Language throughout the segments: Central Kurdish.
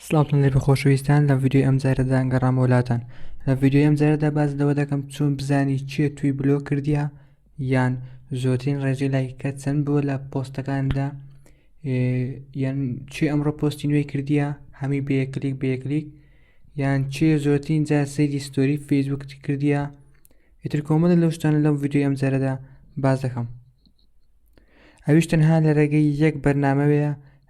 سڵاوتان لێبێ خۆشەویستان لە ڤیدیۆی ئەم جارەدا گەڕام وەلاتان لە ڤیدیۆی ئەم جارەدا باز لەوە دەکەم چۆن بزانی چیە توی بلۆ کردیا یان زۆرترین ڕێژەی لایکە چەند بووە لە پۆستەکاندا یان چی ئەمڕۆ پۆستی نوێی کردیا هەمی بەیەکلیک بەیەکلیک یان چێ زۆرترین جا سەیری ستۆری فەیسبوکتی کردیا ئیتر کۆمەدە لەو شتانە لەم ڤیدیۆی ئەم جارەدا باز دەکەم ئەویش تەنها لە ڕێگەی یەک بەرنمەوەیە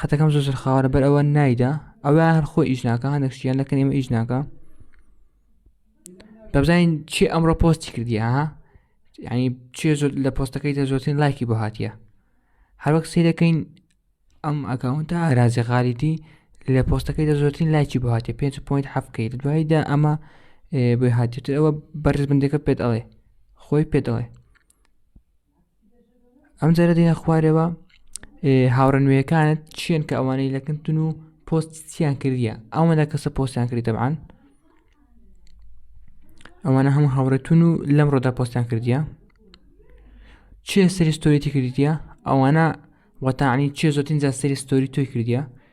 خەتەکەم زۆر خاوەرە بەر ئەوە نایدا ئەوە هەر خۆ ئیش ناکە هەندێک شتیان لەکەن ئێمە ئیش ناکە دەبزانین چی ئەمڕۆ پۆستی کردی ها ینی چێ زۆر لە پۆستەکەی دە زۆرترین لایکی بۆ هااتە هەروەک سی دەکەین ئەم ئەکاونتە ئارازی غاریتی لە پۆستەکەی دە زۆرترین لایکی بۆ هااتێ 5 پوینت حەفکەیت دواییدا ئەمە بۆی هااتێتر ئەوە بەرز بندەکە پێت ئەڵێ خۆی پێت ئەڵێ ئەم جارە دێنە خوارەوە هاوڕە نوێیەکانت چیان کە ئەوانەی لەکردن و پۆست چیان کردیە ئەوە لە کەسە پۆستیان کردی دەبان ئەوانە هەموو هاوڕێتون و لەم ڕۆدا پۆستیان کردیە چێ سەری ستۆریتی کردیە ئەوانە وەتانی چێ زۆتین جا سەری ستۆری تۆی کردیە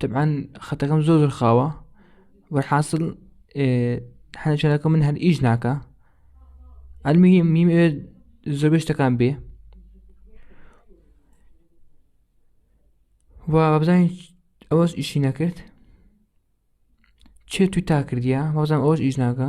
طبعا خەتەکەم زۆر زۆر خاوە وەحاصل حەە چەنەکە من هەر ئیش ناکە ئەلمیم میم زۆر شتەکان بێ و بزانین ئەوەش ئیشی نەکرد چێ توی تا کردیا وەزان ئەوش ئیش ناکە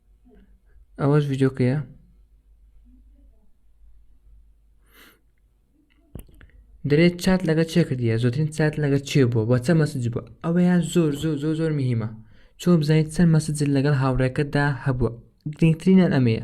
ئەوەش ڤیددیوکەیە دەێت چات لەگە چێ کردە زۆترین چات لەگە چێ بووە بە چە مەسج بووە ئەوەیان زۆر زۆر زۆر زۆر مهمە چۆ بزانیت چەند مەسجل لەگەڵ هاوڕێکەتدا هەبووە گرنگترینیان ئەمەیە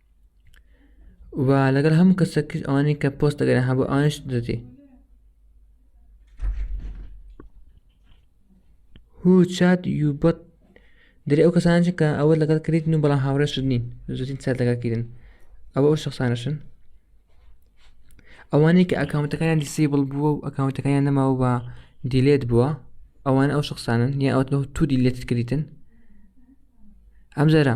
و لەگەڵ هەموو کەسێک ئەوانەی کە پۆست دەگەرێن هەبوو ئەوانش دەدی هو چات یوبەت دەری ئەو کەسانچ کە ئەوە لەگەڵ کردن و بەڵام هاوڕێشت نین زوتین چات لەگەڵ کردن ئەوە ئەو شخصانەشن ئەوانەی کە ئەکاونتەکانیان دیسیبل بووە و ئەکاونتەکانیان نەماوە بە دیلێت بووە ئەوان ئەو شخصانن یا ئەوەوە تو دیلێت کردیتن ئەم جارە